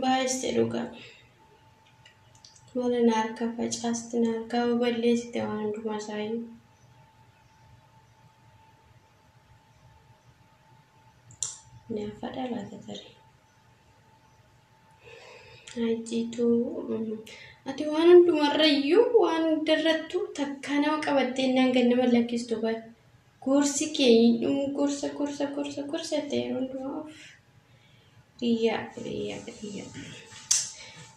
Baay'iste dhugaa. Mana na harka facaasti na harkaa balleessite waan hundumaa isaayyuu. Naafa dhalata tarii. Hajjiituu ati waan hundumarrayyuu waan hundarrattuu takkaa nama qabattee innaan gad nama lakkistu bar gorsi kee hin dhumu gorsa gorsa gorsa gorsa ta'e hundumaa of biyyaa biyyaa biyyaa.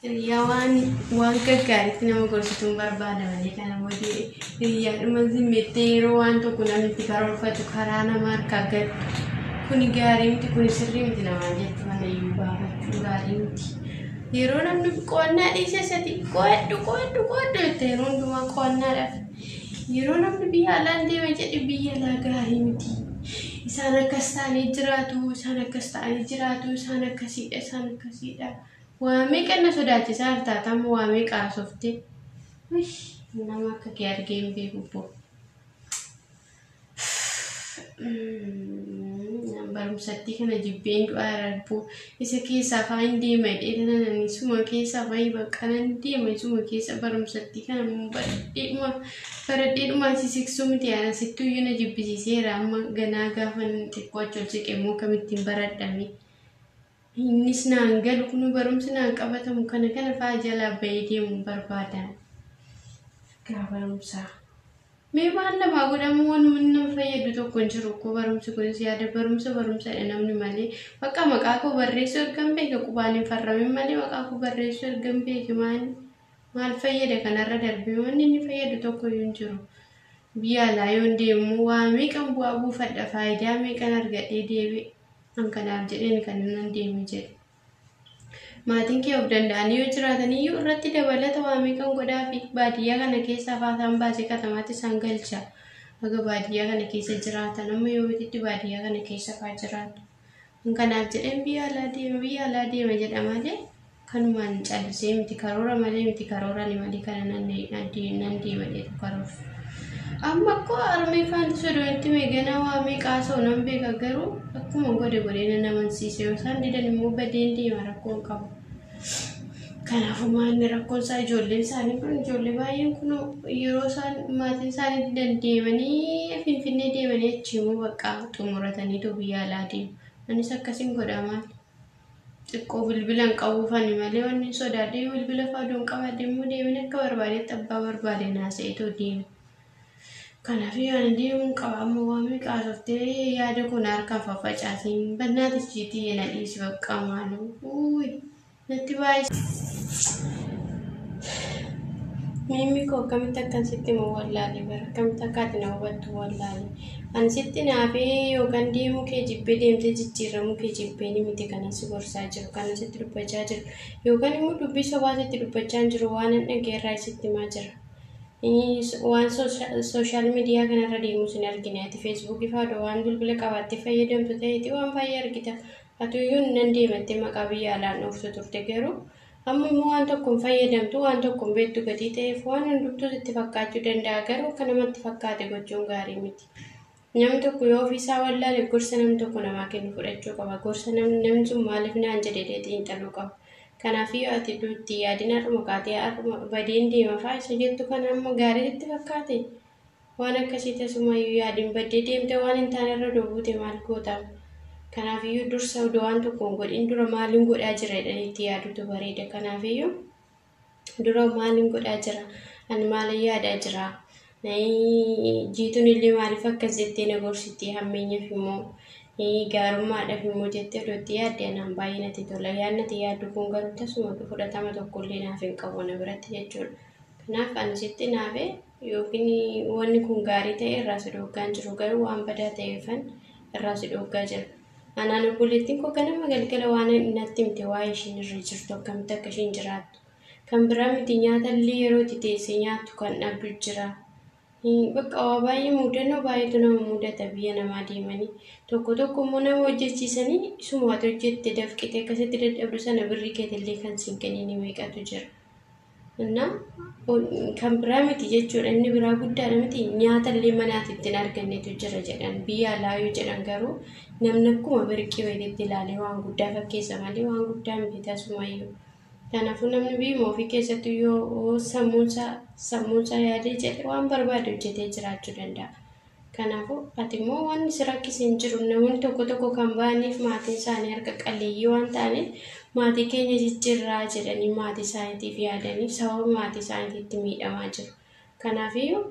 Hiriyyaa waan waan gaggaaritti nama gorsituun barbaada malee kana booddee hiriyyaadhuma zimmettee yeroo waan tokko namni itti karoorfatu karaa nama harkaa gad kuni gaarii miti kuni sirrii miti namaan jettu kana iyyuu baafachuu gaarii miti. Yeroo namni qo'annaa dhiisee isati qo'adhu qo'adhu qo'adhu jette yeroo hundumaa qo'annaadhaaf. Yeroo namni biyya alaan deema jedhe biyya alaa gaarii miti. Isaan akkas ta'anii jiraatu isaan akkas ta'anii jiraatu isaan akkasiidha isaan akkasiidha. Waa meeqan na sodaachisaa jirta ati amma waa meeqa haasofte wish nama akka kee argee hin beeku bbo Nan barumsattii kana jibbeen du'aa irarbuu isa keessaa faa hin deema jedhee tanan ani isuma keessaa faa hin bakka nan deema isuma keessa barumsattii kana immoo baradheedhuma baradheedhuma si siksuu miti yaana sittuu iyyuu na jibbisiiseera amma ganaa gaafa xiqqoo achi ol siqe immoo akkamittiin baradhame. Innis naan galu kun barumsi naan qabatamu kana kana fa'aa jalaa ba'ee deemuun barbaada. Gaa barumsaa. Mee maal namaa godhamu wanuma nama fayyadu tokko hin jiru koo barumsi kunis yaada barumsa barumsadha namni malee bakka maqaa koo barreessuu erga hin beeke qubaan hin farramin malee maqaa koo barreessuu erga hin beeke maal maal fayyada kanarra darbee wanni inni fayyadu tokko iyyuu hin jiru. Biyya alaa yoon deemu waa meeqan bu'aa buufadha faayidaa meeqan argadhee deebi'e. An kanaaf jedheen kan nan deeme jedhe. Maatiin kee of danda'anii yoo jiraataniyyuu irratti dabalata waa meeqan godhaafi baadiyyaa kana keessaa faasaan baasee katamaatti isaan galcha. Haga baadiyyaa kana keessa jiraatan amma yoomititti baadiyyaa kana keessa faa jiraatu. An kanaaf jedheen biyya alaa deema biyya alaa deema jedha malee kanumaan callisee miti karoora malee miti karoora ni malee kana nan nan deema jedhu karoorsu. Amma akkoo armee faanti sodoonitti meeganaa waamee qaasoo nan beeka garuu akkuma godhe godhee nan amansiise yoo isaan didan immoo badeen deema rakkoon qabu. Kanaafuu maanni rakkoon isaa ijoolleen isaanii kun ijoollee baay'een kun yeroo isaan maatiin isaanii didan deemanii finfinnee deemanii achi immoo bakka xumuratanii too biyya alaa deemu. Anis akkasiin godhaa maali? xiqqoo bilbila hin qabu fani malee wanni hin sodaadhe yoo bilbila fa'aa odoon qabaadhe immoo deemin akka barbaadetti abbaa barbaade naasa'eetoo deema. Kanaaf yaani deemuun qaba amma waan meeqa haasoftee yaada kun harkaan faffacaatiin bannaa tichiitii yana dhiisi bakka maaloo uuy natti baay'isa. Miimmi koo akkamitti akkan sitti immoo wallaalee bara akkamitti akkaati na hubattu wallaalee. Ani sitti naafee yookaan deemuu kee jibbee deemtee jijjiirramuu kee jibbee ni miti kanan si gorsaa jiru kanan sitti dubbachaa jiru yookaan immoo dubbii sobaa sitti dubbachaa hin jiru waan hin dhaggeerraa sitti himaa jira. Waan sooshaal miidiyaa kanarra deemus hin argine ati feesbuukii faadha waan bilbila qabaattee fayyadamtu ta'eeti waan baay'ee argita. Atuyyuu nan deemattee maqaa biyya alaan dhooftu turte garuu Amma immoo waan tokko hin fayyadamtu, waan tokko hin beektu gatii ta'eef waan hundumtuu sitti fakkaachuu danda'a garuu akka namatti fakkaate gochuun gaarii miti. Namni tokko yoo ofii isaa wallaale gorsa namni tokko namaa kennu fudhachuu qaba. Gorsa namni namni sun maaliif naan jedhe jedhee xiinxaluu qaba. Kanaaf yoo ati duutti yaadina har'uma kaatee har'uma badeen deema fa'aa isa jettu kana amma gaarii sitti fakkaate? Waan akkasii tasumayyuu yaadin baddee deemtee waan hin taane irra odoo buute maal goota? Kanaafiyyuu dursa odoo waan tokko hin godhin dura maalin godhaa jira jedhanii itti yaaduutu bareeda. Kanaafiyyuu dura maalin godhaa jira? Ani maalin yaadaa jira? Jiituun illee maaliif akkas jettee na gorsitti hammeenyaaf immoo gaarummaadhaaf immoo jettee odoo itti yaadde anaan baay'ee natti tola. Yaadni ati yaaddu kun garuu tasuma fudhatama tokkollee naaf hin qabu na biratti jechuudha. Kanaaf ani sitti naafee Yookiin wanni kun gaarii ta'ee irraa si dhooggaan jiru garuu waan badaa ta'eefan irraa si dhooggaa jira. Anaan obboleettiin koo ganama galgala waan natti himte waa'ee ishiin irra jirtu akkamitti akka ishiin jiraattu. Kan biraa miti nyaata illee yeroo itti teessee nyaattu kan dhabdu jira. Bakka waa baay'ee muudannoo baay'eetu nama muudata biyya namaa deemanii. Tokko tokko immoo nama hojjechiisanii isuma ati hojjette dafqite akkasitti dadhabdu sana birrii keetillee kan siin kenniin meeqatu jira. Innaa kan biraa miti jechuudha inni biraa guddaadha miti nyaata illee manaatti ittiin argannetu jira jedhan biyya alaa yoo jedhan garuu namni akkuma birqii wayiitti ilaalee waan guddaa fakkeessa malee waan guddaa miti tasumayyuu. Kanaafuu namni biyya ofii keessatti yoo sammuunsaa sammuunsaa yaadee jedhe waan barbaade hojjetee jiraachuu danda'a. Kanaafuu, ati immoo wanni si rakkise hin jiru. Namoonni tokko tokko kan ba'aniif maatiin isaanii harka qalleeyyii waan ta'aniif, maatii keenya jijjiirraa jedhanii maatii isaaniitiif yaadaniif sababa maatii isaaniitiitti miidhamaa jiru. Kanaafiyyuu,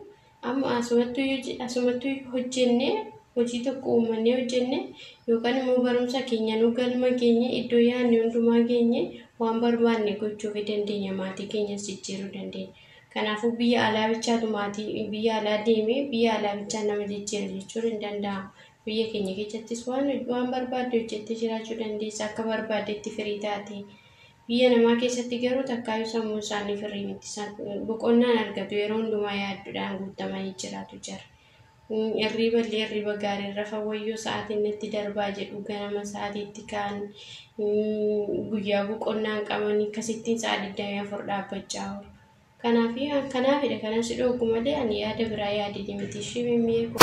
amma asumattuu yoo je- asumattuu yoo hojjennee, hojii tokko uumannee hojjennee, yookaan immoo barumsa keenyanuu galma geenye, iddoo yaadne hundumaa geenye, waan barbaanne gochuufi dandeenya, maatii keenyas jijjiiruu dandeenya. Kanaafuu biyya alaa bichaatu maatii biyya alaa deemee biyya alaa bichaa nama jijjiira jechuun hin danda'amu. Biyya keenya keessattis waan hoj- waan barbaadde hojjettee jiraachuu dandeessa akka barbaaddetti firii taate. Biyya namaa keessatti garuu takkaayyuu sammuun isaanii firii miti. San- Boqonnaan argatu yeroo hundumaa yaaddudhaan guutamanii jiraatu jara. Irriiballee irriiba gaariin rafa wayyoo sa'aatiin natti darbaa jedhu ganama sa'aatiitti ka'an guyyaa boqonnaan qabanii kasittiin sa'a 24 dhaabbachaa oolu. Kanaaf kanaafidha kanan si dhoogu malee ani yaada biraa yaadini miti ishii mimmee kun.